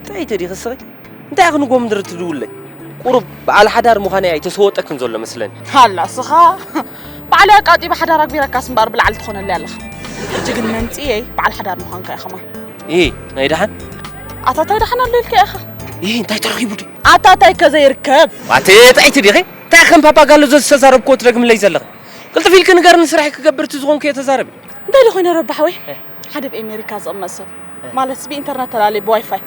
እንታይ ኢዩ ተዲኺ ስኺ እንታይ ኢኺ ንጎምድር ትድውለይ ቁሩብ በዓል ሓዳር ምዃነይ ኣይተሰወጠክን ዘሎ መስለኒ። ኣላ ስኻ ባዕለይ ኣቃጢበ ሓዳር ኣግቢረካስ እምበኣር ብላዕሊ ትኾነለይ ኣለኻ ሕጂ ግን መምጺኤይ በዓል ሓዳር ምዃንካ ኢዩ ከማን። ኢሂ ናይ ደሓን። ኣታ እንታይ ደሓን ኣሎ ኢልካ ኢኻ። ኢሂ እንታይ ተረኺቡ ድዩ። ኣታ እንታይ ከ ዘይርከብ። ኣቲ ጥዕይቲ ዲኺ እንታይ ከም ፓፓጋሎ ዘዝተዛረብክዎ ትደግምለይ ዘለኺ ቅልጥፍ ኢልኪ ንገርኒ ስራሕይ ክገብር እቲ ዝኾንክዮ ተዛረቢ። እንታይ ዶ ኮይነ ረቢ ሓወይ ሓደ ብ ኣሜሪካ ዝቕመጥ ሰብ ማለት ብኢንተርነት ተላለየ ብዋይፋይ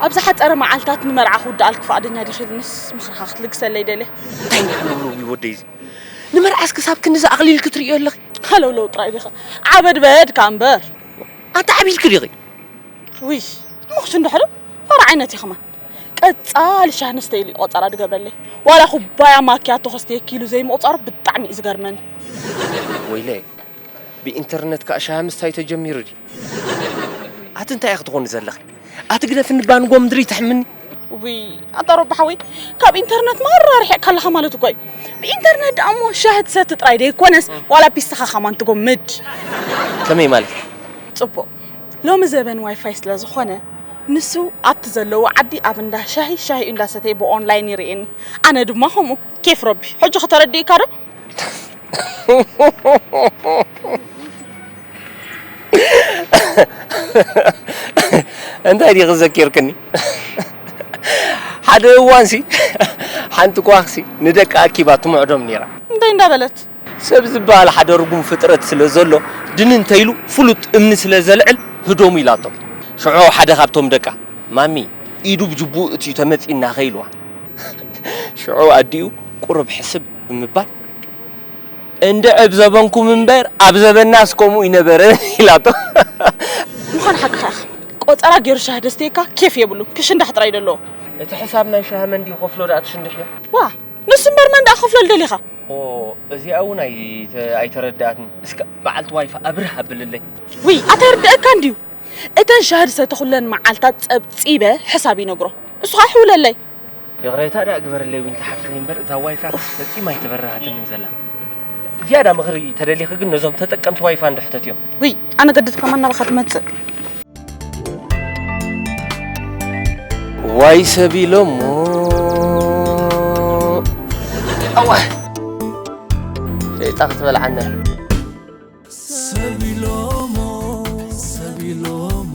ኣብ ዝሓፀረ መዓልታት ንመርዓ ክውድኣልክ ፍቓደኛ ዲኺ ኢልንስ ምኽርኻ ክትልግሰለይ ደልየ እንታይ ኢና ሃለውለው እዩ ወደይ እዚ ንመርዓስ ክሳብ ክንዲ ዝኣቕሊል ክትርእዮ ኣለኺ ሃለውለው ጥራይ ዲኺ ዓበድበድ ከ እምበር ኣታ ዓቢልኪ ዲኺ ውይ እሞክስ እንድሕሪ ፋራ ዓይነት እዩ ከማን ቀፃሊ ሻህ ንስተይ ኢሉ ቆፀራ ድገብረለይ ዋላ ኩባያ ማኪያቶ ከስተየኪ ኢሉ ዘይምቑፃሩ ብጣዕሚ እዩ ዝገርመኒ ወይለ ብኢንተርነት ከኣ ሻሂ ምስታይ ተጀሚሩ ድዩ ኣቲ እንታይ ኢኺ ትኾኒ ዘለኺ ኣቲ ግደፍኒ ባን ጎምድሪ ተሕምኒ ውይ ኣታ ሮቢ ሓወይ ካብ ኢንተርነት ማራ ኣርሒቕካ ኣለኻ ማለት እኮ እዩ ብኢንተርነት ደኣ እሞ ሻሂ ትሰቲ ጥራይ ደይኮነስ ዋላ ፒስታኻ ከማን ትጎምድ ከመይ ማለት ጽቡቕ ሎሚ ዘበን ዋይፋይ ስለ ዝኾነ ንሱ ኣብቲ ዘለዎ ዓዲ ኣብ እንዳ ሻሂ ሻሂኡ እንዳሰተየ ብኦንላይን ይርእየኒ ኣነ ድማ ከምኡ ኬፍ ረቢ ሕጂ ከተረድእካ ዶ እንታይ ዲኺ ዘኪርክኒ ሓደ እዋንሲ ሓንቲ ጓኽሲ ንደቃ ኣኪባ ትምዕዶም ነይራ እንታይ እንዳበለት ሰብ ዝበሃል ሓደ ርጉም ፍጥረት ስለ ዘሎ ድን እንተይሉ ፍሉጥ እምኒ ስለ ዘልዕል ህዶሙ ኢላቶ ሽዑ ሓደ ካብቶም ደቃ ማሚ ኢዱ ብጅቡኡ እትዩ ተመጺና ኸኢልዋ ሽዑ ኣዲኡ ቁሩብ ሕስብ ብምባል እንድዒ ኣብ ዘበንኩም እምበር ኣብ ዘበናስ ከምኡ ኣይነበረን ኢላቶ። ምዃን ሓቅኻ ኢኻ ቆጸራ ጌሩ ሻሂ ደስተየካ ኬፍ የብሉን ክሽንዳሕ ጥራይ ደለዎ። እቲ ሕሳብ ናይ ሻሂ መን ድዩ ክኸፍሎ ድኣ ትሽንድሕዮ። ዋእ ንሱ እምበር መን ድኣ ክኸፍሎ ልደሊኻ። ኦህ እዚኣ ውን ኣይተረድኣትኒ እስከ በዓልቲ ዋይፋ ኣብርህ ኣብልለይ። ውይ ኣታ ይርደኣካ እንድዩ እተን ሻሂ ዝሰተኹለን መዓልታት ጸብጺበ ሕሳብ ይነግሮ እሱ ኸኣ ይሕውለለይ። ይቕሬታ ደኣ ግበርለይ ዊንታ ሓፍተይ እምበር እዛ ዋይፋ ፈጺማ ኣይተበራሃትንን ዘላ ዝያዳ ምኽሪ ተደሊኺ ግን ነዞም ተጠቀምቲ ዋይፋ እንዶ ሕተት እዮም ውይ ኣነ ገድት ከማን ናባኻ ትመጽእ ዋይ ሰብ ኢሎሞ ኣዋ ሸይጣ ክትበልዓና ሰብ ኢሎሞ ሰብ ኢሎሞ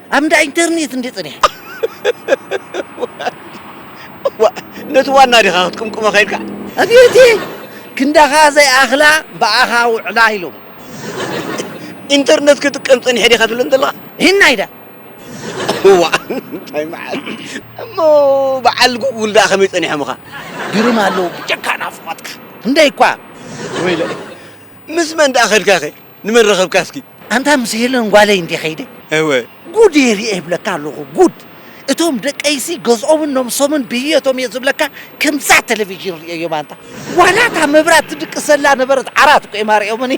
ኣብ እንዳ ኢንተርኔት እንድየ ጸኒሐ። ዋእ ነቲ ዋና ዲኻ ክትቅምቅሞ ከይድካ? ኣቤትይ ክንዳኻ ዘይኣኽላ ብኣኻ ውዕላ ኢሎም። ኢንተርነት ክጥቀም ጸኒሐ ዲኻ ትብለኒ ዘለኻ? ሂናይ ድኣ። ዋእ እንታይ መዓልቲ እሞ በዓል ጉጉል ድኣ ከመይ ጸኒሖምኻ? ግርም ኣለዉ ብጀካ ናፍቆትካ ክንደይ እኳ። ወይለይ ምስ መን ድኣ ከድካኸ? ንመን ረኸብካ እስኪ? ኣንታ ምስ ሄለን ጓለይ እንድየ ከይደ። እወ። ጉድየ ሪኤ ይብለካ ኣለኹ ጉድ! እቶም ደቀይሲ ገዝኦምን ነብሶምን ብህየቶም እየ ዝብለካ ከምዛ ተለቪዥን ሪኤዮም ኣንታ። ዋላ እታ መብራት ትድቅስ ዘላ ነበረት ዓራት እኮ እዮም ኣሪኦምኒ።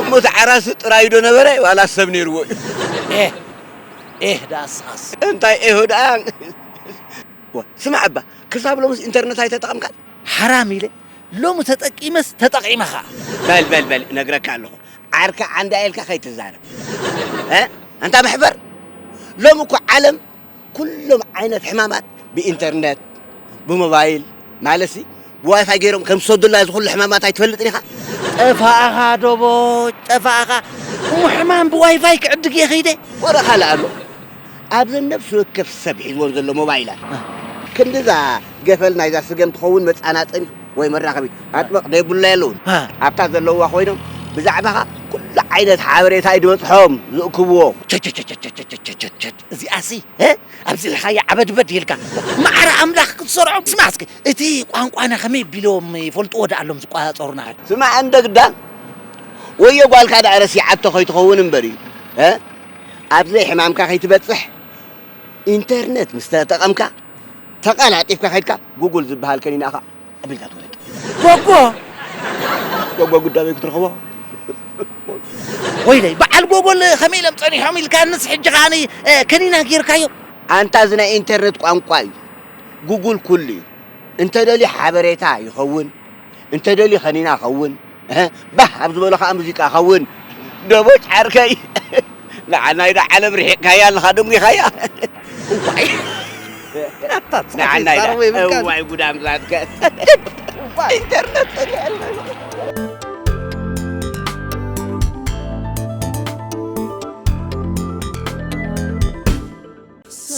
እሞ እቲ ዓራትሲ ጥራዩ ዶ ነበረ ዋላስ ሰብ ነይርዎ እዩ? ኤህ ኤህ ደኣ ንስኻስ። እንታይ ኤሆ ደኣ። ስማዕ እባ ክሳብ ሎምስ ኢንተርነት ኣይተጠቐምካን? ሓራም ኢለ ሎሚ ተጠቂመስ ተጠቂመ ከኣ። በል በል በል እነግረካ ኣለኹ ዓርኪ ዓንዳ ኢልካ ከይትዛረብ እ ኣንታ መሕፈር ሎሚ እኮ ዓለም ኩሎም ዓይነት ሕማማት ብኢንተርነት ብሞባይል ማለትሲ ብዋይፋይ ገይሮም ከም ዝሰዱልና እዚ ኩሉ ሕማማት ኣይትፈልጥን ኢኻ ጠፋእኻ ዶቦጭ ጠፋእኻ እሞ ሕማም ብዋይፋይ ክዕድግ እየ ከይደ ወረ ካልእ ኣሎ ኣብዘን ነፍሲ ወከፍ ሰብ ሒዝወን ዘሎ ሞባይላት ክንድዛ ገፈል ናይዛ ስገም ትኸውን መጻናጠኒት ወይ መራኸቢት ኣጥበቕ ደይብሉላ የለውን። ኣብታ ዘለውዋ ኮይኖም ብዛዕባኻ ኩሉ ዓይነት ሓበሬታ እዩ ድበጽሖም ዝእክብዎ። ቸቸቸቸቸቸቸቸቸቸ እዚኣሲ ኣብዚ ኢልካያ ዓበድበድ ኢልካ ማዕረ ኣምላኽ ክትሰርዖም ስማዕ እስኪ እቲ ቋንቋና ከመይ ቢሎም ይፈልጥዎ ደኣ ኣሎም ዝቋጻጸሩና። ስማዕ እንደግዳን ወዮ ጓልካ ደኣ ረሲዓቶ ከይትኸውን እምበር እዩ። ኣብ ዘይሕማምካ ከይትበጽሕ ኢንተርነት ምስ ተጠቐምካ ተቐላጢፍካ ከድካ ጉጉል ዝበሃል ከኒና ኢኻ ኣቢልካ ትወለድ ጎጎ ጎጎ ጉዳበይ ክትረኽቦ ወይለይ በዓል ጎጎል ከመይ ኢሎም ጸኒሖም ኢልካ ንስ ሕጂ ከዓኒ ከኒና ጌርካዮ ኣንታ እዚ ናይ ኢንተርነት ቋንቋ እዩ ጉጉል ኩሉ እዩ እንተደልዩ ሓበሬታ ይኸውን እንተ ደልዩ ከኒና ከውን እህ ባህ ኣብ ዝበሎ ከኣ ሙዚቃ ከውን ደቦጭ ዓርከይ ንዓናይ ዶ ዓለም ርሒቕካያ ኣለኻ ደንጒኻያ ዋይ ጉድ ኣምላከ ኢንተርነት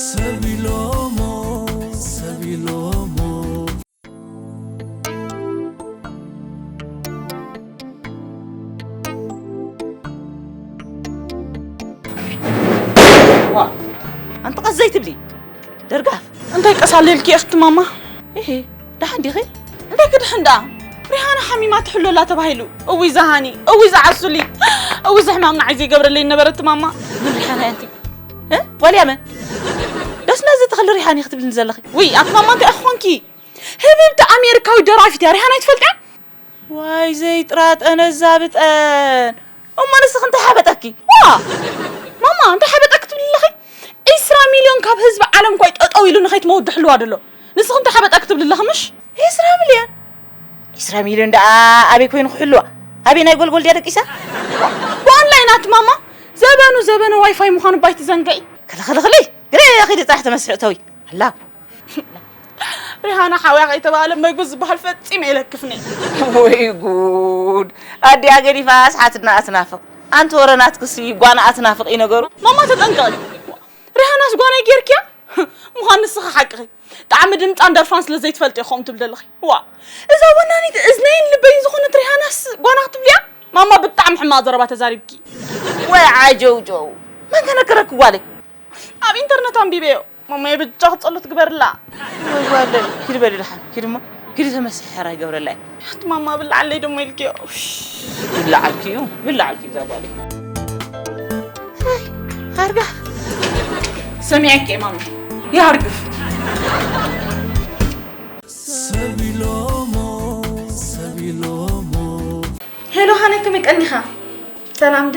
ሰብ ኢሎሞ ሰብ ኢሎሞ ኣንቲ ቀስ ዘይትብሊ ደርጋፍ እንታይ ቀሳለልኪ እኽቲ ማማ ይሄ ደሓን ዲኺ እንታይ ክድሕን ደኣ ሪሃና ሓሚማ ትሕሎ ኣላ ተባሂሉ እውይ ዝሃኒ እውይ ዝዓሱሊ እውይ ዝሕማም ንዓይ ዘይገብረለይ ነበረት ማማ ምን ሪሓና እያ እንቲ ዋልያ መን ደስ ነዚ ተኽሊ ሪሓኒ ክትብልኒ ዘለኺ ውይ ኣቲ ማማ እንታይ ኢኺ ኮንኪ? ህብብቲ ኣሜሪካዊት ደራፊት እያ ሪሃና ኣይትፈልጥያን? ዋይ ዘይጥራጠነ እዛ ብጠን እሞ ንስኺ እንታይ ሓበጠኪ? ዋ ማማ እንታይ ሓበጠኪ ትብሊ ኣለኺ? ዒስራ ሚልዮን ካብ ህዝቢ ዓለም ኳይ ጠጠው ኢሉ ንኸይትመውት ድሕልዋ ድሎ ንስኺ እንታይ ሓበጠኪ ትብሊ ኣለኺ ምሽ? ዒስራ ሚልዮን ዒስራ ሚልዮን ደኣ ኣበይ ኮይኑ ክሕልዋ ኣበይ ናይ ጎልጎል ድያ ደቂሳ? ብኦንላይን ኣቲ ማማ ዘበኑ ዘበነ ዋይፋይ ምዃኑ ባይ ትዘንግዒ። ክልኽልኽልይ ግረ ኺዲ ጥራሕ ተመስርዕተዊ። ኣላ ሪሃና ሓውያ ከይተባህለ መግቢ ዝበሃል ፈፂመ የለክፍኒ ወይ ጉድ ኣዲኣ ገዲፋ ኣስሓትና ኣትናፍቕ ኣንቲ ወረ ናትክሲ ጓና ኣትናፍቕ እዩ ነገሩ ማማ ተጠንቀቂ ሪሃናስ ጓናይ ጌርክያ ምዃን ንስኺ ሓቅኺ ጣዕሚ ድምፃን ደርፋን ስለ ዘይትፈልጥ እዮ ከምኡ ትብል ዘለኺ ዋ እዛ ወናኒት እዝነይን ልበይን ዝኾነት ሪሃናስ ጓና ክትብልያ ማማ ብጣዕሚ ሕማቕ ዘረባ ተዛሪብኪ ወይ ዓጀውጀው መን ተነገረኪ ጓለይ ኣብ ኢንተርነት ኣንቢበዮ ማማየ ብጃኽ ጸሎት ግበርላ ወለይ ኪድ በሊ ድሓን ኪድ እሞ ኪድ ተመስሒ ሕራይ ገብረላይ እቲ ማማ ብላዓለይ ደሞ ኢልክዮ ብላዓልኪ እዩ ብላዓልኪ እዛ ጓል ኣርጋ ሰሚዐኪ ማማ ይሃርግፍ ሄሎ ሃነ ከመይ ቀኒኻ ሰላም ድ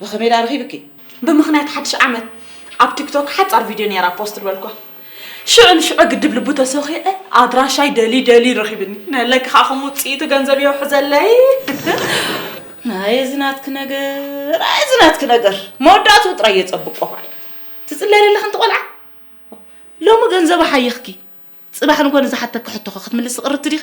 ብኸመይ ድኣ ረኺብኪ? ብምኽንያት ሓድሽ ዓመት ኣብ ቲክቶክ ሓጻር ቪድዮ ኔራ ፖስት ዝበልኩዋ። ሽዑ ንሽዑ ግድብ ልቡ ተሰኺዐ ኣድራሻይ ደልዩ ደልዩ ረኺብኒ። ናይ ለክ ከኣ ከም ውጽኢቱ ገንዘብ የውሕዘለይ። ኣየ እዚ ናትኪ ነገር ኣየ እዚ ናትኪ ነገር መወዳእትኡ ጥራይ የጸብቆ ኳይ ትጽለያ ዘለኺ እንተ ቆልዓ ሎሚ ገንዘብ ሓይኽኪ ጽባሕ ንጎኒ ዝሓተኪ ሕቶኸ ክትምልሲ ቅርብቲ ዲኺ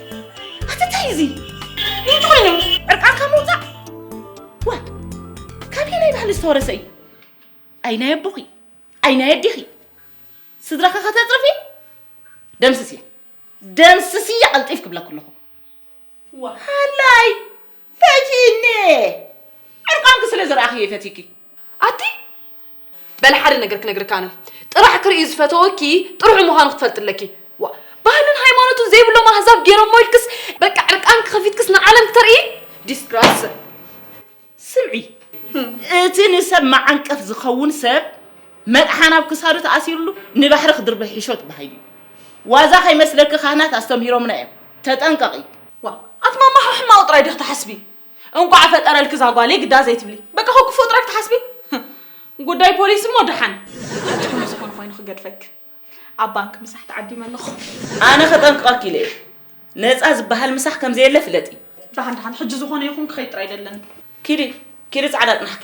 ኣትታይ እዚ ምንጭ ኮይኑ ዕርቃንካ ምውፃእ ዋ ካብየ ናይ ባህሊ ዝተወረሰ እዩ ኣይ ናይ ኣቦኺ ኣይ ናይ ኣዴኺ ስድራኻ ከተፅርፊ ደምስስያ ደምስስያ ቀልጢፍ ክብለኩ ኣለኹ ሃላይ ፈትዩኒ ዕርቃንኪ ስለ ዝረኣኽየ ፈትዩኪ ኣቲ በል ሓደ ነገር ክነግርካ ኣነ ጥራሕ ክርኢ ዝፈተወኪ ጥርሑ ምዃኑ ክትፈልጢ ኣለኪ ዋ ባህልን ሃይማኖትን ዘይብሎም ኣህዛብ ገይሮሞ ኢልክስ በቃ ዕርቃን ክኸፊትክስ ንዓለም ክተርኢ ዲስግራስ ስምዒ እቲ ንሰብ መዓንቀፍ ዝኸውን ሰብ መጥሓን ኣብ ክሳዱ ተኣሲሩሉ ንባሕሪ ክድርበ ሒሾት ባሃይ እዩ ዋዛ ከይመስለኪ ካህናት ኣስተምሂሮምና እዮም ተጠንቀቒ ዋ ኣቲ ማማ ሕማቕ ጥራይ ዲኺ ትሓስቢ እንቋዕ ፈጠረልኪ ዛጓለይ ግዳ ዘይትብሊ በቃ ከክፉ ጥራይ ክትሓስቢ ጉዳይ ፖሊስ እሞ ደሓን ትኹኑ ዝኾነ ኮይኑ ክገድፈኪ ኣብ ባንኪ ምሳሕ ተዓዲመ ኣለኹ ኣነ ከጠንቅቐኪ ኢለ እየ ነፃ ዝበሃል ምሳሕ ከምዘየለ ፍለጢ ደሓን ደሓን ሕጂ ዝኾነ ይኹን ክኸይድ ጥራይ ደለኒ ኪዲ ኪዲ ጻዕዳ ጥናሕኪ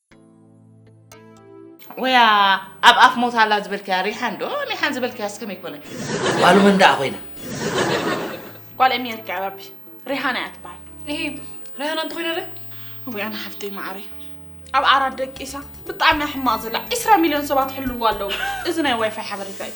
ወያ ኣብ ኣፍ ሞት ኣላ ዝበልክያ ሪሓን ዶ ሚሓን ዝበልክያ ስከመይ ኮነ ጓሉ መን ደኣ ኮይና ጓል ኤሚያ ትከ ኣባቢ ሪሃና እያ ትበሃል ይሄ ሪሃና እንተኮይነ ረ ወይ ኣነ ሓፍተይ ማዕሪ ኣብ ዓራት ደቂሳ ብጣዕሚ ሕማቕ ዘላ 20 ሚልዮን ሰባት ሕልዋ ኣለዉ እዚ ናይ ዋይፋይ ሓበሬታ እዩ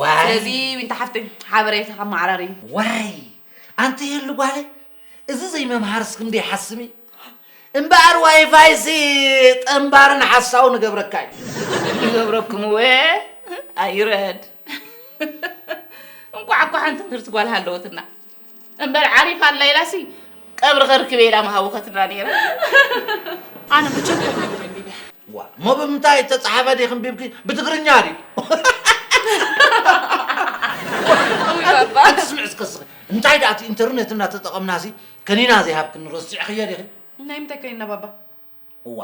ዋይ ስለዚ ዊንታ ሓፍተይ ሓበሬታ ከመዓራሪ ዋይ ኣንቲ የሉ ጓለ እዚ ዘይመምሃርስ ክንደይ ሓስም እምበኣር ዋይፋይሲ ጠንባርን ሓሳው ንገብረካ እዩ ንገብረኩም ወ ኣይረድ እንኳዕ እኳ ሓንቲ ትምህርቲ ጓል ሃለወትና እምበር ዓሪፍ ኣላ ኢላሲ ቀብሪ ከርክበ ኢላ ምሃቦ ከትብላ ነይራ ኣነ መቸም ዋ እሞ ብምንታይ እተፀሓፈ ዲኺ እምቢብኪ ብትግርኛ ድዩ ኣትስምዕ እስከ ስኺ እንታይ ደኣ እቲ ኢንተርኔት እናተጠቐምናሲ ከኒና ዘይሃብክኒ ረሲዕኽዮ ዲኺ ናይ ምንታይ ከኒና ባባ እዋ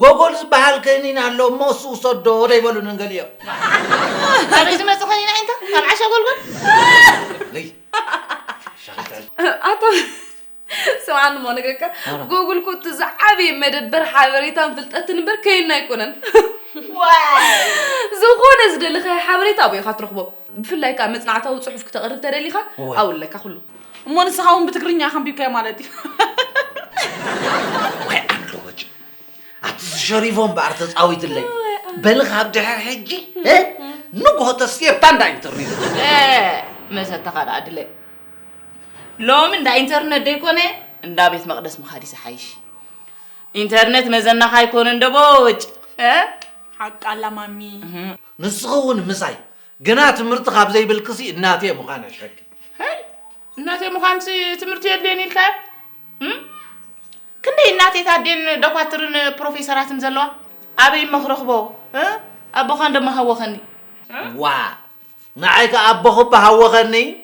ጎጎል ዝበሃል ከኒን ኣሎ እሞ እሱ ውሰዶ ዶ ኣይበሉንን ገሊኦም ካበይ ዝመፅእ ከኒን ኣዒንታ ካብ ዓሻ ጎልጎል ልይ ኣቶ ስምዓኒ እሞ ንግረካ ጎጉል ኮቲ ዝዓበየ መደበር ሓበሬታን ፍልጠትን እምበር ከይና ኣይኮነን ዝኾነ ዝደለኻዮ ሓበሬታ ኣብኡ ኢኻ ትረኽቦ ብፍላይ ከኣ መጽናዕታዊ ጽሑፍ ክተቕርብ ተደሊኻ ኣውለካ ኩሉ እሞ ንስኻ እውን ብትግርኛ ከንቢብካዮ ማለት እዩ ወይ ዓንዶቦጭ ኣቲ ዝሸሪፎ እምበኣር ተጻዊትለይ በሊ ካብ ድሕር ሕጂ ንግሆ ተስየብታ እንዳ ኢንተርኔት መሰተኻ ደኣ ድለ ሎሚ እንዳ ኢንተርነት ደይኮነ እንዳ ቤት መቕደስ ምኻድ ይዝሓይሽ ኢንተርነት መዘናኻ ኣይኮነን ደቦጭ ሓቃላ ማሚ ንስኺ እውን ምሳይ ግና ትምህርቲ ካብ ዘይብልክሲ እናቴ ምዃን ኣሸኪ ሀይ እናቴ ምዃንሲ ትምህርቲ የድልየን ኢልካ እም? ክንደይ እናቴ ታዴን ደኳትርን ፕሮፌሰራትን ዘለዋ ኣበይ እሞ ክረኽቦ እ? ኣቦኻን ደሞ ሃወኸኒ እ? ዋ ንዓይ ከ ኣቦኺ እባ ሃወኸኒ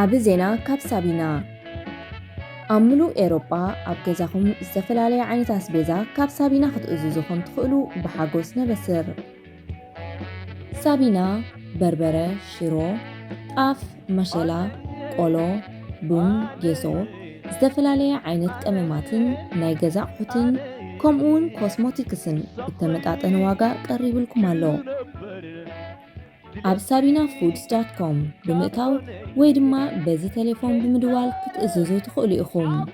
ዓቢ ዜና ካብ ሳቢና ኣብ ምሉእ ኤሮጳ ኣብ ገዛኹም ዝተፈላለየ ዓይነት ኣስቤዛ ካብ ሳቢና ክትእዝዙ ከም ትኽእሉ ብሓጎስ ነበስር! ሳቢና በርበረ ሽሮ ጣፍ መሸላ ቆሎ ቡን ጌሶ ዝተፈላለየ ዓይነት ቀመማትን ናይ ገዛ ኣቑሑትን ከምኡውን ኮስሞቲክስን ብተመጣጠነ ዋጋ ቀሪብልኩም ኣሎ ኣብ ሳቢና ፉድስ ዳት ኮም ብምእታው ወይ ድማ በዚ ቴሌፎን ብምድዋል ክትእዝዙ ትኽእሉ ኢኹም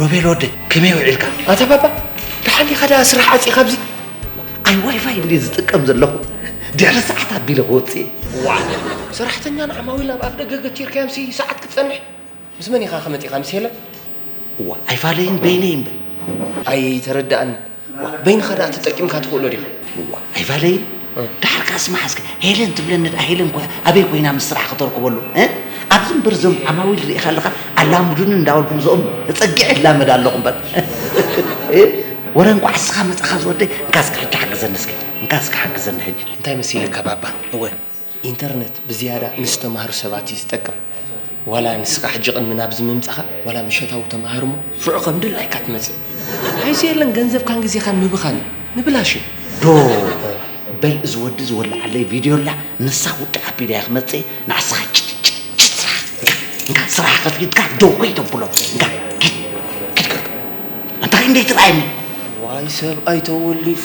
ሮቤል ወደይ ከመይ ውዒልካ? ኣታ ባባ ደሓን ኢኻ ደኣ ስራሕ ዓፂ ካብዚ ኣይ ዋይፋይ እንድየ ዝጥቀም ዘለኹ ድሕሪ ሰዓት ኣቢለ ክወፅእ ዋ ሰራሕተኛ ንዓማዊል ኣብ ኣፍ ደገ ገቲርካዮም ሲ ሰዓት ክትፀንሕ ምስ መን ኢኻ ከመፂኻ ምስ ሄለን እዋ ኣይፋለይን በይነይ እምበር ኣይተረዳእኒ ዋ በይንኻ ደኣ ተጠቂምካ ትኽእሎ ዲኻ? እዋ ኣይፋለይ ደሓር ከኣ ስማዕ እስከ ሄለን ትብለኒ ደኣ ሄለን እኮ ኣበይ ኮይና ምስ ስራሕ ክተርክበሉ ኣብዚ እምበር እዞም ዓማዊል ርኢኻ ኣለኻ ኣላሙዱኒ እንዳበልኩ ምስኦም ተጸጊዐ እላመድ ኣለኹ እምበር ወረ እንቋዕ ንስኻ መጻኻ ዝወደይ እንካ እስከ ሕጂ ሓግዘኒ እስከ እንካ እስከ ሓግዘኒ ሕጂ እንታይ መሲልካ ባባ እወ ኢንተርነት ብዝያዳ ንዝተማህሩ ሰባት እዩ ዝጠቅም ዋላ ንስኻ ሕጂ ቅድሚ ናብዚ ምምጻኻ ዋላ ምሸታዊ ተማሃር እሞ ሽዑ ከም ድላይካ ትመጽእ ሓይሲ የለን ገንዘብካን ግዜኻን ምብኻን እዩ ንብላሽ እዩ ዶ በል እዚ ወዲ ዝወለዓለይ ቪድዮ ኣላ ንሳ ውድቅ ኣቢላያ ክመጽእ እየ ንዓስኻ ጭጭጭ ስራሕ እንካ እንካ ስራሕ ከፊትካ ደው ከይተብሎ እንካ ኪድ ኪድ ከርዶ ኣንታ ክንደይ ትርኣየኒ ዋይ ሰብኣይ ተወሊፉ።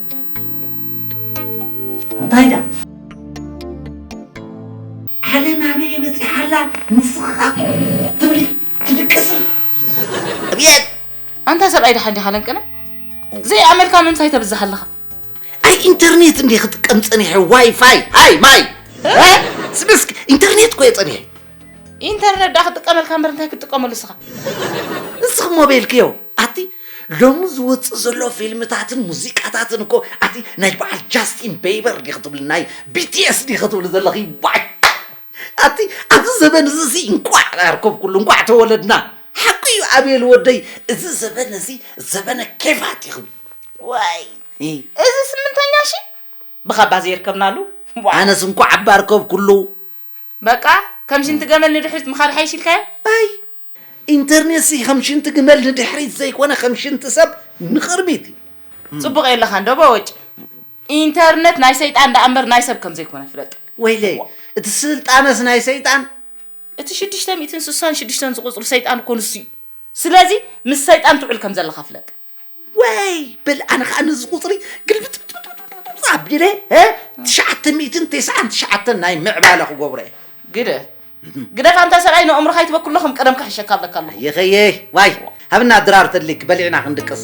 እንታይ ድኣ ዓለም ኣበየ በፂሓ ኣላ ንስኻ ትብል ትድቅስ ኣብየት ኣንታ ሰብኣይ ድሓን ዲኻ ለንቅነ ዘይኣመልካ ምንታይ ተብዝሕ ኣለኻ ኣይ ኢንተርኔት እንዲ ክጥቀም ፀኒሐ ዋይፋይ ሃይ ማይ ስብስክ ኢንተርኔት ኮየ ፀኒሐ ኢንተርነት ዳ ክጥቀመልካ እምበር እንታይ ክትጥቀመሉ እስኻ እስኺ ሞቤልኪ የው ኣቲ ሎሚ ዝወፅእ ዘሎ ፊልምታትን ሙዚቃታትን እኮ ኣቲ ናይ በዓል ጃስቲን ቤይበር ዲኺ ትብሊ ናይ ቢቲኤስ ዲኺ ትብሊ ዘለኺ ባይ ኣቲ ኣብዚ ዘበን እዚ ሲ እንቋዕ ኣርከብኩሉ እንቋዕ ተወለድና ሓቁ እዩ ኣቤል ወደይ እዚ ዘበን እዚ ዘበነ ኬፋት ይኽብ ዋይ እዚ ስምንተኛ ሺ ብኻባ ዘይርከብናሉ ኣነስ እንቋዕ ኣባ ኣርከብኩሉ በቃ ከም ሽንቲ ገመል ንድሕሪት ምኻድ ይሓይሽ ኢልካዮ? ኣይ ኢንተርኔትሲ ከም ሽንቲ ግመል ንድሕሪት ዘይኮነ ከም ሽንቲ ሰብ ንቕርቢት እዩ። ጽቡቕ የለኻን ዶ በወጭ ኢንተርነት ናይ ሰይጣን ደኣ እምበር ናይ ሰብ ከም ዘይኮነ ፍለጥ። ወይለይ እቲ ስልጣነስ ናይ ሰይጣን? እቲ ሽዱሽተ ሚእትን ስሳን ሽዱሽተን ዝቑጽሩ ሰይጣን እኮ ንሱ እዩ። ስለዚ ምስ ሰይጣን ትውዕል ከም ዘለኻ ፍለጥ። ወይ በል ኣነ ከዓ ነዚ ቁፅሪ ግልብጥብጥብጥብጥብጥ ኣቢለ እ፣ ትሽዓተ ሚእትን ተስዓን ትሽዓተን ናይ ምዕባለ ክገብሮ እየ። ግደ ግደፍ ኣንታ ሰብኣይ ንእምሮኻ ኣይትበክሎ ከም ቀደምካ ሕሸካ ኣብለካ ኣለኹ። ኣየኸየይ ዋይ ሃብና ድራር ተድሊክ በሊዕና ክንድቅስ።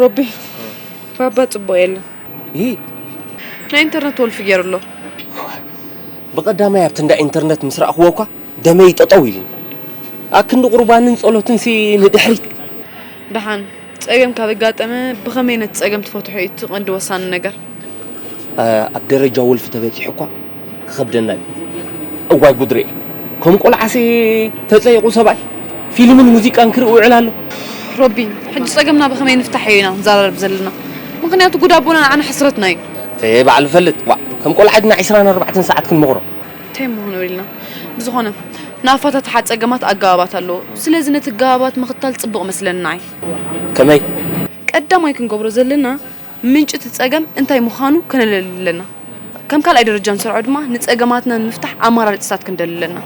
ሮቢ ባባ ጽቡቕ የለን ይ ናይ ኢንተርነት ወልፊ ገይሩ ኣሎ ብቐዳማይ ኣብቲ እንዳ ኢንተርነት ምስ ረእኽዎ እኳ ደመይ ጠጠው ኢሉኒ ኣብ ክንዲ ቁርባንን ጸሎትን ሲ ንድሕሪት ደሓን ጸገም ካብ ኣጋጠመ ብኸመይ ነቲ ጸገም ትፈትሖ እዩ እቲ ቀንዲ ወሳኒ ነገር ኣብ ደረጃ ወልፊ ተበጺሑ እኳ ክኸብደና እዩ። እዋይ ጉድ ርኤ ከም ቆልዓሲ ተጸይቑ ሰብኣይ ፊልምን ሙዚቃን ክርኢ ውዕል ኣሎ። ሮቢ ሕጂ ጸገምና ብኸመይ ንፍታሕ እዩ ኢና ንዛራረብ ዘለና ምኽንያቱ ጉድ ኣቦና ንዓና ሕስረትና እዩ። ተየ ባዕሉ ይፈልጥ ዋእ ከም ቆልዓ ድና ዕስራን ኣርባዕተን ሰዓት ክንመኽሮ። ታይ ምኾኑ ኢልና ብዝኾነ ንኣፋታትሓ ጸገማት ኣገባባት ኣለዎ ስለዚ ነቲ ኣገባባት ምኽታል ጽቡቕ መስለኒ ንዓይ። ከመይ? ቀዳማይ ክንገብሮ ዘለና ምንጪ እቲ ጸገም እንታይ ምዃኑ ከነለሊ ኣለና። ከም ካልኣይ ደረጃ ንሰርዖ ድማ ንጸገማትና ንምፍታሕ ኣማራርጺታት ክንደሊ ኣለና።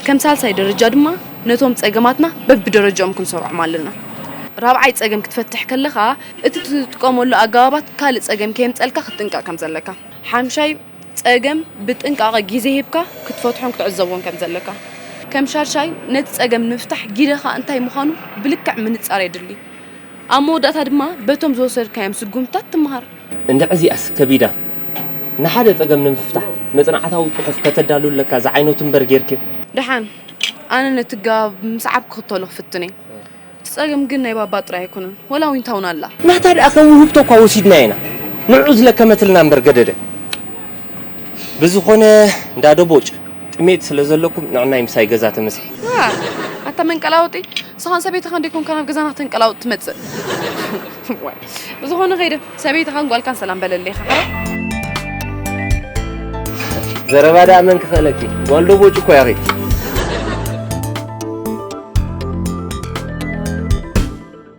ከም ሳልሳይ ደረጃ ድማ ነቶም ጸገማትና በብደረጃኦም ክንሰርዖም ኣለና። ራብዓይ ጸገም ክትፈትሕ ከለኻ እቲ ትጥቀመሉ ኣገባባት ካልእ ጸገም ከየምጸልካ ክትጥንቀቕ ከም ዘለካ። ሓምሻይ ጸገም ብጥንቃቐ ግዜ ሂብካ ክትፈትሖን ክትዕዘቦን ከም ዘለካ። ከም ሻድሻይ ነቲ ጸገም ንምፍታሕ ጊደኻ እንታይ ምዃኑ ብልክዕ ምንጻር የድሊ። ኣብ መወዳእታ ድማ በቶም ዝወሰድካዮም ስጉምትታት ትመሃር። እንድዒ እዚኣስ ከቢዳ! ንሓደ ጸገም ንምፍታሕ መጽናዕታዊ ጽሑፍ ከተዳሉ ኣለካ ዝዓይነቱ እምበር ጌርኪ። ደሓን ኣነ ነቲ ኣገባብ ብምስዓብ ክኽተሎ ክፍትን እየ። እቲ ጸገም ግን ናይ ባባ ጥራይ ኣይኮነን ወላ ዊንታውን ኣላ። ናታ ድኣ ከም ውህብቶ እኳ ወሲድናያ ኢና ንዑዑ ዝለከመትልና እምበር ገደደ። ብዝኾነ እንዳ ደቦጭ! ጥሜት ስለ ዘለኩም ንዕናይ ምሳይ ገዛ ተመስሒ። ኣታ መንቀላውጢ ንስኻን ሰበይትኻን ደይኮንካ ናብ ገዛና ከተንቀላውጥ ትመጽእ ዋይ ብዝኾነ ከይደ ሰበይትኻን ጓልካን ሰላም በለለይ ኢኻ ሓራ ዘረባ ደኣ መን ክኽእለኪ ጓል ዶ ቦጭ እኮ ያኺ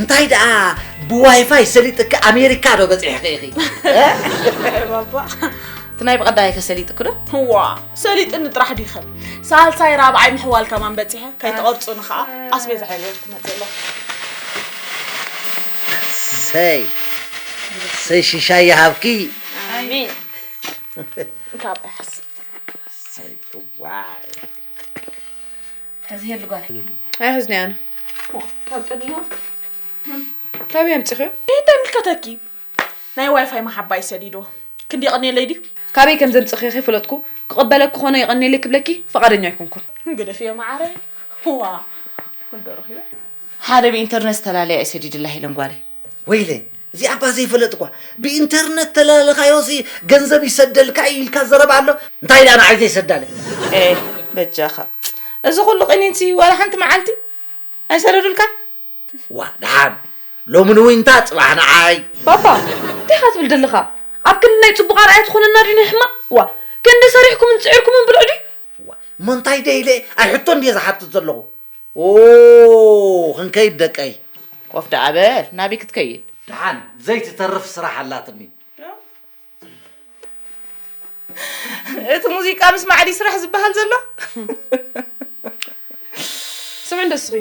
እንታይ ደኣ ብዋይፋይ ሰሊጥኪ ኣሜሪካ ዶ በፂሕኺ ኢኺ ባባ እቲ ናይ ብቐዳይ ከሰሊጥኩ ዶ ዋ ሰሊጥኒ ጥራሕ ዲኸ ሳልሳይ ራብዓይ ምሕዋል ከማን በፂሐ ከይተቐርፁኒ ከዓ ኣስቤዛ ሓይለወት ክመፅእ ኣለኹ ሰይ ሰይ ሽሻይ ይሃብኪ ኣሜን እንካብ ኣይሓስ ሰይ ዋይ ሕዚ የሉ ጓል ኣይሕዝኒ ኣነ ካብይ ኣምፂኽዮ እንታይ ምልከተኪ ናይ ዋይፋይ መሓባይ ሰዲዶ ክንዲ የቐንየለይ ድዩ ካበይ ከም ዘምፅኽዮ ከይፈለጥኩ ክቕበለኪ ኮነ የቐንየለይ ክብለኪ ፈቓደኛ ኣይኮንኩን ግደፍዮ ማዓረይ ዋ ክንዶ ረኺበ ሓደ ብኢንተርነት ዝተላለያ እዩ ሰዲድላ ሄለን ጓለይ ወይለይ እዚኣ እኳ ዘይፈለጥኳ ብኢንተርነት ተላልኻዮሲ ገንዘብ ይሰደልካ እዩ ኢልካ ዘረባ ኣሎ እንታይ ድኣ ንዓይ ዘይሰዳለይ። ኤህ በጃኻ እዚ ኩሉ ቂኒንሲ ዋላ ሓንቲ መዓልቲ ኣይሰደዱልካን? ዋእ ድሓን ሎሚ ንዊንታ ጽባሕ ንዓይ። ባባ እንታይ ኢኻ ትብል ዘለኻ ኣብ ክንዲ ናይ ጽቡቕ ኣርኣያ ትኾነና ድዩ ናይ ሕማቕ ዋእ ክንዲ ሰሪሕኩምን ጽዒርኩምን ብልዑ ድዩ። ዋእ እሞ እንታይ ደይ ኢለ ኣይ ሕቶ እንድየ ዝሓትት ዘለኹ። ኦው ክንከይድ ደቀይ። ኮፍ ደኣ በል ናብይ ክትከይድ። ደሓን ዘይትተርፍ ስራሕ ኣላትኒ። እቲ ሙዚቃ ምስማዕ ድዩ ስራሕ ዝበሃል ዘሎ? ስምዕ እንዶ እስኺ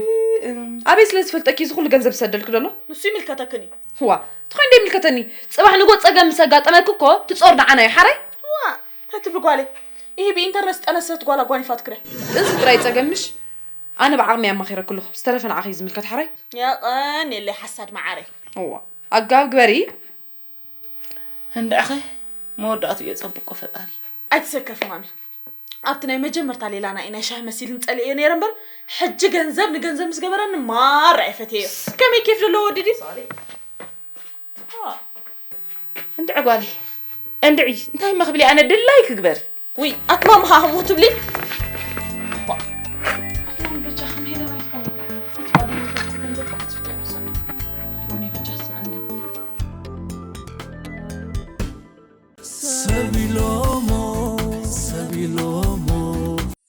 ኣበይ ስለ ዝፈልጠኪ እዚ ኩሉ ገንዘብ ዝሰደልኪ ደሎ ንሱ ይምልከተክን እዩ ዋ ትኾይን ዶ ይምልከተኒ ፅባሕ ንጎ ፀገም ምስ ኣጋጠመኪ እኮ ትፆር ንዓና እዩ ሓራይ ዋ ተትብሊ ጓለይ ይህ ብኢንተርነት ዝጠነሰት ጓል ኣጓኒፋት ክረ እዚ ጥራይ ፀገምሽ ኣነ ብዓቅመይ ኣማኺረ ክሉኹ ዝተረፈ ንዓኺ እዩ ዝምልከት ሓረይ። የቐንየለይ ሓሳድ መዓረይ። እዋ ኣጋብ ግበሪ። እንድዕኸ መወዳእትኡ የጸብቆ ፈጣሪ። ኣይትሰከፊ ማሚ ኣብቲ ናይ መጀመርታ ሌላና እዩ ናይ ሻሂ መሲልኒ ጸሊኤዮ ነይረ እምበር ሕጂ ገንዘብ ንገንዘብ ምስ ገበረኒ ማራ እየ ፈትየዮ። ከመይ ኬፍ ዘለዎ ወዲ ድዩ? እንድዒ ጓለይ እንድዒ እንታይ እማ ክብሊ ኣነ ድላይ ክግበር ውይ ኣትማም ሃህሞ ትብሊ ሰቢሎሞ ሰቢሎሞ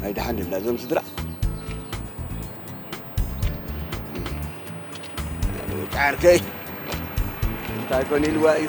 ናይ ደሓን ድዮም ናይዞም ስድራ ወዲ ዓርከይ እንታይ ኮን ኢልዋ እዩ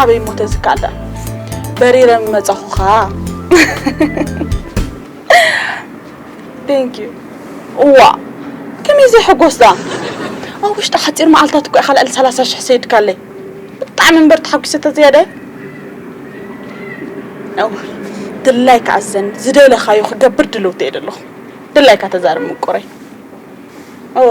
ኣበይ እሞ ተዝካኣለ በሪረ ምመፃኹ ኸዓ ቴንኪዩ እዋ ከመይ ዘይሕጎስ ደኣ ኣብ ውሽጢ ሓፂር መዓልታት እኮ ኢኻ ልዕሊ ሰላሳ ሽሕ ሰይድካለይ ብጣዕሚ እምበር ተሓጒሰ ተዘያዳይ ድላይካ ኣዘኒ ዝደለኻዮ ክገብር ድልውቲ እየ ዘለኹ ድላይካ ተዛርብ ምቁረይ እዋ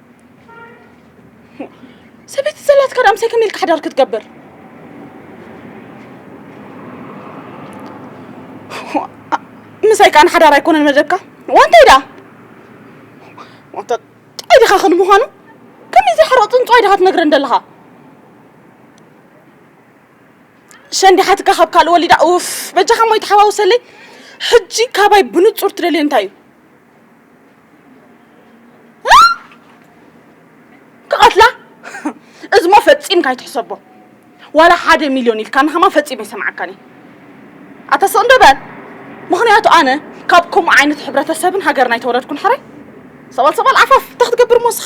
ሰበይቲ ዘላትካ ዳኣ ምሳይ ከመይ ኢልካ ሓዳር ክትገብር ምሳይ ከዓ ንሓዳር ኣይኮነን መደብካ ዋንታይ ዳኣ ዋንታ ጥዑይ ዲኻ ክል ምዃኑ ከመይ ዘይሓረቕ ፅንፅዋይ ዲኻ ትነግረን ዘለኻ ሸንዲ ሓትካ ካብ ካልእ ወሊዳ ኡፍ በጃኻ ሞ ይተሓዋውሰለይ ሕጂ ካባይ ብንፁር ትደልዮ እንታይ እዩ ክቐትላ እዝሞ ፈፂምካ ኣይትሕሰቦ ዋላ ሓደ ሚልዮን ኢልካ ንኸማ ፈፂመ ይሰምዓካኒ ኣታ ስቕ እንዶ በል ምኽንያቱ ኣነ ካብ ከምኡ ዓይነት ሕብረተሰብን ሃገርና ኣይተወለድኩን ሕራይ ሰባል ሰባል ዓፋፍ እንታይ ክትገብር ሞስኻ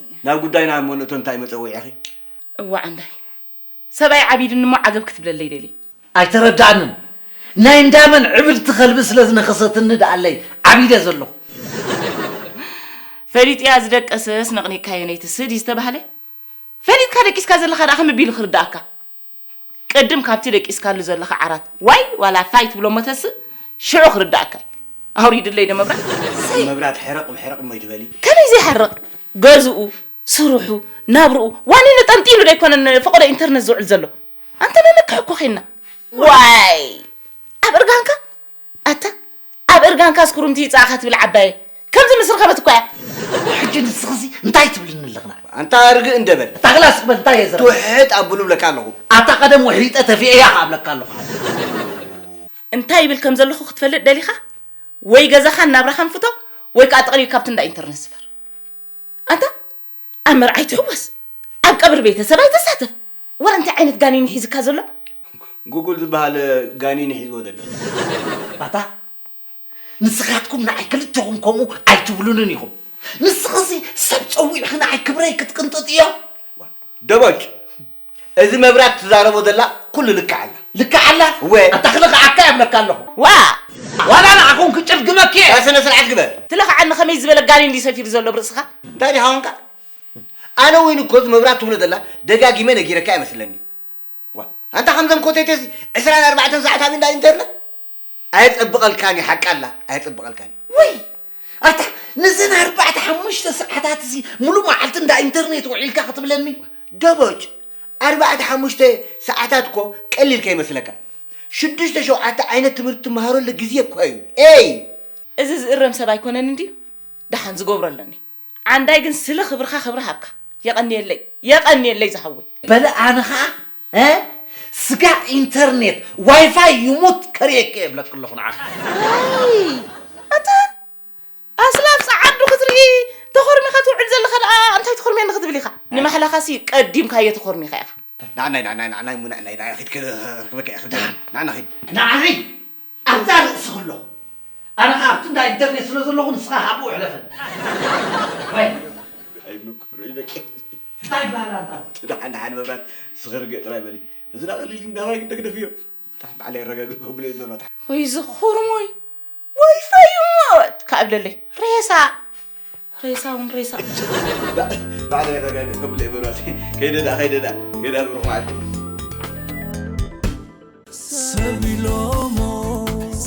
ናብ ጉዳይና እሞ ንእቶ እንታይ መጸውዒኺ? እዋእ ኣንዳይ ሰብኣይ ዓቢድኒ እሞ ዓገብ ክትብለለይ ደልየ። ኣይተረድኣንን ናይ እንዳመን ዕብድቲ ከልቢ ስለ ዝነኸሰትኒ ድኣለይ ዓቢደ ዘለኹ። ፈሊጥያ ዝደቀሰስ ነቕኒቕካዮ ነይቲ ስዲ ዝተባህለ ፈሊጥካ ደቂስካ ዘለኻ ድኣ ከመይ ኣቢሉ ክርድኣካ? ቅድም ካብቲ ደቂስካሉ ዘለኻ ዓራት ዋይ ዋላ ፋይ ትብሎሞ ተስእ ሽዑ ክርዳኣካ እዩ ኣውሪድለይ ዶ መብራት ሰይ መብራት ሕርቕ ሕርቕ እሞ ኣይትበሊ። ከመይ ዘይሓርቕ ገዝኡ ስርሑ ናብርኡ ዋኒኑ ጠንጢኑ ዶ ኣይኮነን ንፈቐዶ ኢንተርነት ዝውዕል ዘሎ ኣንተ ነንቅሕ እኮ ዄንና ዋይ ኣብ እርጋንካ ኣታ ኣብ እርጋንካስ ኩርምቲ ይጻኣኻ ትብል ዓባየይ ከምዚ ምስ ረኸበት እኳ እያ። ሕጂ ንስኺሲ እንታይ ትብልኒ ኣለኺ ንዓይ? ኣንታ ርግእ እንደ በል። ኣታ ክላስ በል እንታይ እየ ዝረብሕ። ትውሕጥ ኣብሉ እብለካ ኣለኹ። ኣታ ቀደም ውሒጠ ተፊኤ እያ ከኣ እብለካ ኣለኹ ሓወይ። እንታይ ይብል ከም ዘለኹ ክትፈልጥ ደሊኻ ወይ ገዛኻን ናብራኻን ፍቶ ወይ ከኣ ጠቕሊልካ ኣብቲ እንዳ ኢንተርነት ስፈር። ኣታ ኣብ መርዓ ኣይትሕወስ ኣብ ቀብሪ ቤተሰብ ኣይትሳተፍ ወረ እንታይ ዓይነት ጋኒን ሒዝካ ዘሎ። ጉጉል ዝበሃል ጋኒን እዩ ሒዝዎ ዘሎ። ኣታ ንስኻትኩም ንዓይ ክልተኹም ከምኡ ኣይትብሉንን ኢኹም። ንስኺሲ ሰብ ጸዊዕኺ ንዓይ ክብረይ ክትቅንጥጥዮ። ደቦጭ እዚ መብራት ትዛረቦ ዘላ ኩሉ ልክዕ ኣላ። ልክዕ ኣላ? እወ። ኣታ ክልኽዓካ የብለካ ኣለኹ። ዋእ! ዋላ ንዓኹም ክጭልግመኪ እየ። ስነ ስርዓት ግበር። ትለኽዓኒ ከመይ ዝበለ ጋኔን ድዩ ሰፊሩ ዘሎ ኣብ ርእስኻ? እንታይ ድዩ ሃዋንካ? ኣነ ውን እኮ እዚ መብራት ትብሎ ዘላ ደጋጊመ ነጊረካ እየ መስለኒ። ዋእ! ኣንታ ከምዘም ኮተቴሲ ዕስራን ኣርባዕተን ሰዓት ኣብ እንዳ ኢንተርነት? ኣየጸብቐልካን እዩ ሓቂ ኣላ ኣየጸብቐልካን እዩ። ውይ ኣታ ነዘን ኣርባዕተ ሓሙሽተ ሰዓታት እዚ ሙሉእ መዓልቲ እንዳ ኢንተርኔት ውዒልካ ክትብለኒ ደቦጭ ኣርባዕተ ሓሙሽተ ሰዓታት እኮ ቀሊል ከይመስለካ ሽዱሽተ ሸውዓተ ዓይነት ትምህርቲ ትመሃረሉ ግዜ እኮ እዩ ኤይ እዚ ዝእረም ሰብ ኣይኮነን እንድዩ ደሓን ዝገብሮ ኣለኒ ዓንዳይ ግን ስለ ክብርካ ክብሪ ሃብካ የቀንየለይ የቀንየለይ ዝሃወይ። በለ ኣነ ከኣ እ ስጋ ኢንተርኔት ዋይፋይ ይሙት ከርእየኪ እየ እብለኪ ኣለኩ ንዓኪ። ኣታ ኣስላ ኣብ ጸዓዱ ክትርኢ ተኾርሚኻ ትውዕል ዘለኻ ደኣ እንታይ ትኹርምየኒ ክትብል ኢኻ ንማሕላኻሲ ቀዲምካዮ ተኾርሚኻ ኢኻ። ናዓናይ ናዓናይ ናዓናይ እሞ ናዓናይ ናዓናይ ኪድ ክረክበኪ እየ ኪድ ናዓና ኪድ። ንዓይ ኣብዛ ርእሲ ከለኹ ኣነ ከኣ ኣብቲ እንዳ ኢንተርኔት ስለ ዘለኹ ንስኻ ካብኡ ሕለፈኒ። ዋይ! ኣይ ምቁር እዩ ደቂ ታይ ባሃላ ኣንታ ኣነ። እቲ ደሓን ደሓን መብራት ስኺ ርግእ ጥራይ በሊ። እዚ ደኣ ቀሊል ግን ዳባይ ግደግደፍ እዮ። ታይ ባዕለይ ኣረጋግእ ከብሎ እየ መብራት። ወይ እዚ ኩርሙይ ወይ ፈዩ ሞት ካብ ለለይ ሬሳ። ሬሳ እውን ሬሳ ባዕለ የረጋግእ ከብለይ በሏት ከይደ ዳ ከይደ ዳ ከይዳ ብሩክ መዓልቲ ሰቢሎሞ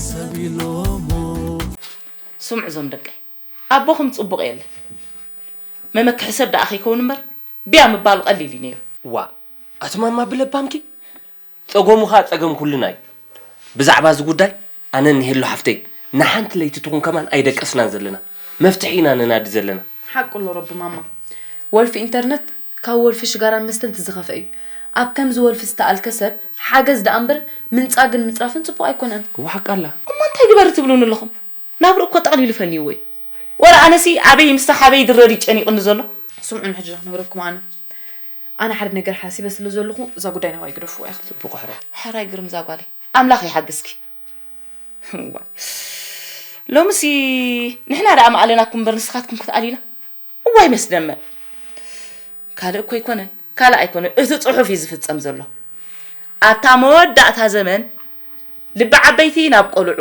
ሰቢሎሞ ስምዑ እዞም ደቀይ ኣቦኹም ፅቡቕ የለ መመክሒ ሰብ ደኣ ከይከውን እምበር ብያ ምባሉ ቀሊል እዩ ነይሩ ዋእ ኣቲ ማማ ብለባምኪ ጸገሙ ከኣ ጸገም ኩልና እዩ ብዛዕባ እዚ ጉዳይ ኣነ ንሄሉ ሓፍተይ ንሓንቲ ለይቲ ትኹን ከማን ኣይደቀስናን ዘለና መፍትሒ ኢና ነናዲ ዘለና። ሓቁ ኣሎ ረቢ ማማ ወልፊ ኢንተርነት ካብ ወልፊ ሽጋራን መስተን ትዝኸፈ እዩ ኣብ ከምዚ ወልፊ ዝተኣልከ ሰብ ሓገዝ ደኣ እምበር ምንጻግን ምጽራፍን ጽቡቕ ኣይኮነን። እወ ሓቃ ኣላ። እሞ እንታይ ግበሪ ትብሉኒ ኣለኹም ናብርኡ እኮ ጠቕሊሉ ፈንይዎ እዩ ወረ ኣነሲ ኣበይ ምስታ ሓበይ ይድረር እዩ ጨኒቕኒ ዘሎ። ስምዑኒ ሕጂ ዶ ክነግረኩም ኣነ ኣነ ሓደ ነገር ሓሲበ ስለ ዘለኹ እዛ ጉዳይ ናባይ ግደፍዋ ኢኹም። ጽቡቕ ሕረ። ሕራይ ግርም እዛ ጓለይ ኣምላኽ ይሓግዝኪ። እዋይ ሎምሲ ንሕና ደኣ ምኣለናኩም እምበር ንስኻትኩም ክትኣልዩና እዋይ መስደመም ካልእ እኮ ኣይኮነን ካልእ ኣይኮነን እቲ ጽሑፍ እዩ ዝፍጸም ዘሎ ኣብታ መወዳእታ ዘመን ልቢ ዓበይቲ ናብ ቆልዑ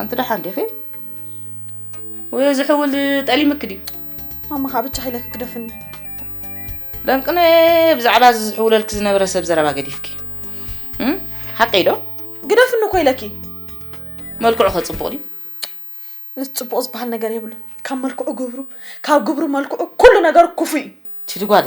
ኣንቲ ደሓን ዲኺ ወይ እዚ ሕውል ጠሊምክ ድዩ ማማ ከዓ ብቻ ሓይለክ ክደፍኒ ለምቅነ ብዛዕባ እዚ ዝሕውለልክ ዝነበረ ሰብ ዘረባ ገዲፍኪ ሓቀይ ዶ ግደፍኒ እኮ ኢለኪ መልክዑ ከፅቡቅ ድዩ ምስ ፅቡቅ ዝበሃል ነገር የብሉ ካብ መልክዑ ግብሩ ካብ ግብሩ መልክዑ ኩሉ ነገሩ ክፉ እዩ ትድጓለ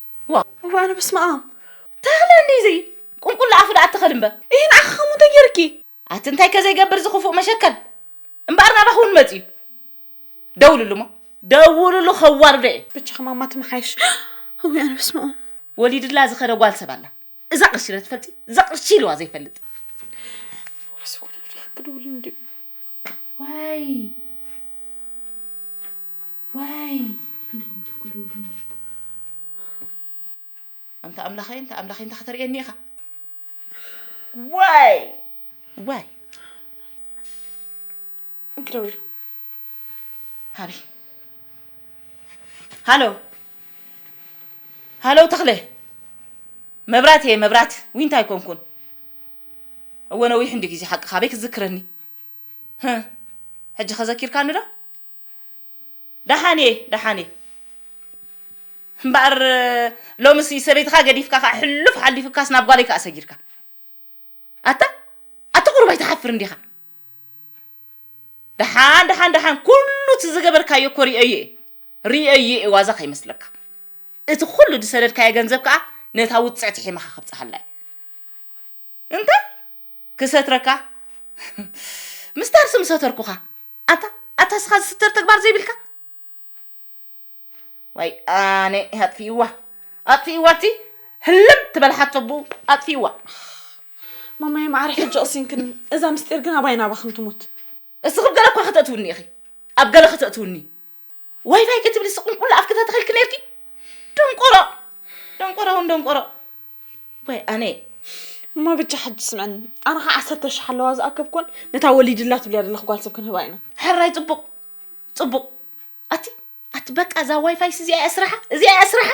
ዋው ኣነ በስመኣም ተኽለ እንዲዚ ቁንቁላ ኣፉ ደኣ ኣትኸል እምበ ይህ ንዓኺ ከምኡ እንታይ ገይርኪ ኣቲ እንታይ ከዘይገብር እዚ ክፉእ መሸከል እምበኣር ናባኺ እውን መፅዩ ደውልሉ እሞ ደውልሉ ከዋርዶ እየ ብቻ ከማማ ትመሓይሽ እውይ ኣነ በስመኣም ወሊድላ ዝኸደ ጓል ሰብ ኣላ እዛ ቅርሺ ዶ ትፈልጢ? እዛ ቅርሺ ኢልዋ ዘይፈልጥ ዋይ ዋይ ኣንታ ኣምላኸይ እንታ ኣምላኸይ እንታ ከተርእየኒ ኢኻ ዋይ ዋይ እንክደውል ሃቢ ሃሎ ሃሎ ተኽለ መብራት እየ መብራት ዊንታ ኣይኮንኩን እወ ነዊሕ እንዲ ግዜ ሓቂ ካበይ ክትዝክረኒ ሕጂ ከዘኪርካኒ ዶ ደሓን እየ ደሓን እየ እምበኣር ሎምስ ሰበይትኻ ገዲፍካ ከዓ ሕሉፍ ሓሊፉካስ ናብ ጓለይ ከዓ ሰጊርካ ኣታ ኣታ ቁሩብ ኣይትሓፍርን ዲኻ? ደሓን ደሓን ደሓን ኩሉ እቲ ዝገበርካዮ እኮ ሪኦዮ እየ ሪኦዮ እየ ዋዛ ከይመስለካ እቲ ኩሉ ዝሰደድካዮ ገንዘብ ከኣ ነታ ውጽዕቲ ሒማኻ ከብጽሓላ እዩ እንታይ ክሰትረካ ምስታርሲ ምሰተርኩኻ ኣታ ኣታ እስኻ ዝስተር ተግባር ዘይብልካ ወያነ ኣጥፊእዋ ኣጥፊእዋ እቲ ህልም ትበል ሓቶ ብኡ ኣጥፊእዋ ማማየ ማዕረ ሕጂ ቕሲንክኒ እዛ ምስጢር ግን ኣባይ ናባኽን ትሙት እስኽብ ገለ እኳ ከተእትውኒ ኢኺ ኣብ ገለ ከተእትውኒ ዋይፋይ ክትብሊ ስቕንቁላ ኣፍኪ ተተኺልኪ ነርኪ ደንቆሮ ደንቆሮ እውን ደንቆሮ ወይ ኣነ እማ ብቻ ሕጂ ስምዐኒ ኣነ ከዓ ዓሰርተ ሽሕ ኣለዋ ዝኣከብኮን ነታ ወሊድላ ትብልያ ዘለኽ ጓል ሰብ ክንህባ ኢና ሕራይ ፅቡቕ ጽቡቕ ኣቲ ኣቲ በቃ እዛ ዋይፋይስ እዚኣ እያ ስራሓ እዚኣ እያ ስራሓ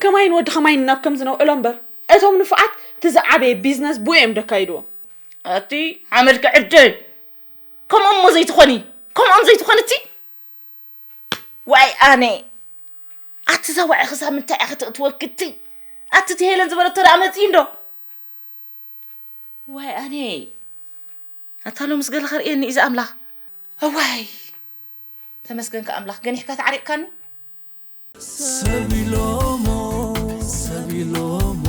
ከማይን ወዲ ከማይን ናብ ከምዚ ነውዕሎ እምበር እቶም ንፉዓት እቲ ዝዓበየ ቢዝነስ ብኡ እዮም ደካይድዎ ኣቲ ሓመድ ክዕድል ከምኦም እሞ ዘይትኾኒ ከምኦም ዘይትኾኒ እቲ ዋይ ኣነ ኣቲ እዛ ዋዒ ክሳብ ምንታይ እያ ከተእትወክቲ ኣቲ እቲ ሄለን ዝበለቶ ደኣ መፅኢ እንዶ ዋይ ኣነይ ኣታ ሎምስ ገለ ከርእየኒ እዩ ዝኣምላኽ እዋይ ተመስገንካ ኣምላኽ ገኒሕካ ተዓሪቕካኒ ሰብ ኢሎሞ ሰብ ኢሎሞ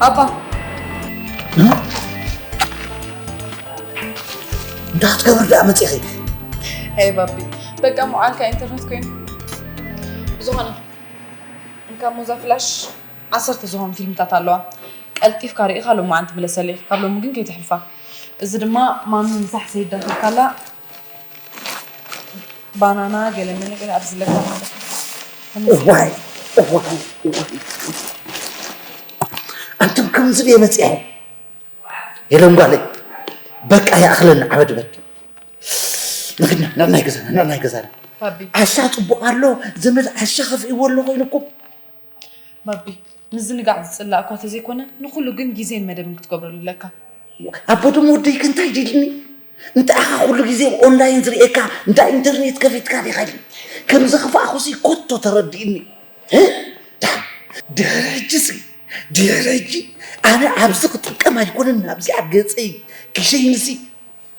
አባ እንዳትገብር ዳመፅ ይኸ ሄይ ባቢ በቃ መዓልካ ኢንተርነት ኮይኑ ብዝኾነ እንካ ሞዛ ፍላሽ ዓሰርተ ዝኾኑ ፊልምታት ኣለዋ ቀልጢፍካ ርኢኻ ሎማዓንቲ ምለሰለይ ኢኺ ካብ ሎሚ ግን ከይትሕልፋ። እዚ ድማ ማሚ ምሳሕ ሰይዳኺልካላ ባናና ገለመለ ገለ ኣብዚ ለካ እዋይ እዋይ እዋይ ኣንቱም ከምዚ ድየ መፅኣ የለን ጓለይ በቃ ይኣኽለና ዓበድበድ ንግና ንዕናይ ገዛና ንዕናይ ገዛና ባቢ ዓሻ ፅቡቕ ኣሎ ዘመድ ዓሻ ከፍእዎ ኣሎ ኮይኑኩም ባቢ ምዝንጋዕ ዝጽላእ እኳ ተዘይኮነ ንኹሉ ግን ግዜን መደብን ክትገብረሉ ኣለካ። ኣቦ ደሞ ወደይ ከ እንታይ ድልኒ እንተኣኻ ኩሉ ግዜ ብ ኦንላይን ዝርእየካ እንዳ ኢንተርኔት ከፊትካ ዲኻ ኢልኒ ከም ዘኽፋእኩሲ ኮቶ ተረዲእኒ ድሕሪ ሕጂሲ ድሕሪ ሕጂ ኣነ ኣብዚ ክጥቀም ኣይኮነን ናብዚኣ ገጸይ ክሸይንሲ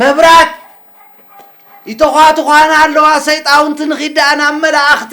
መብራት ይተዃትዃና ኣለዋ ሰይጣውንቲ ንኺድ ደኣ ናብ መላእኽቲ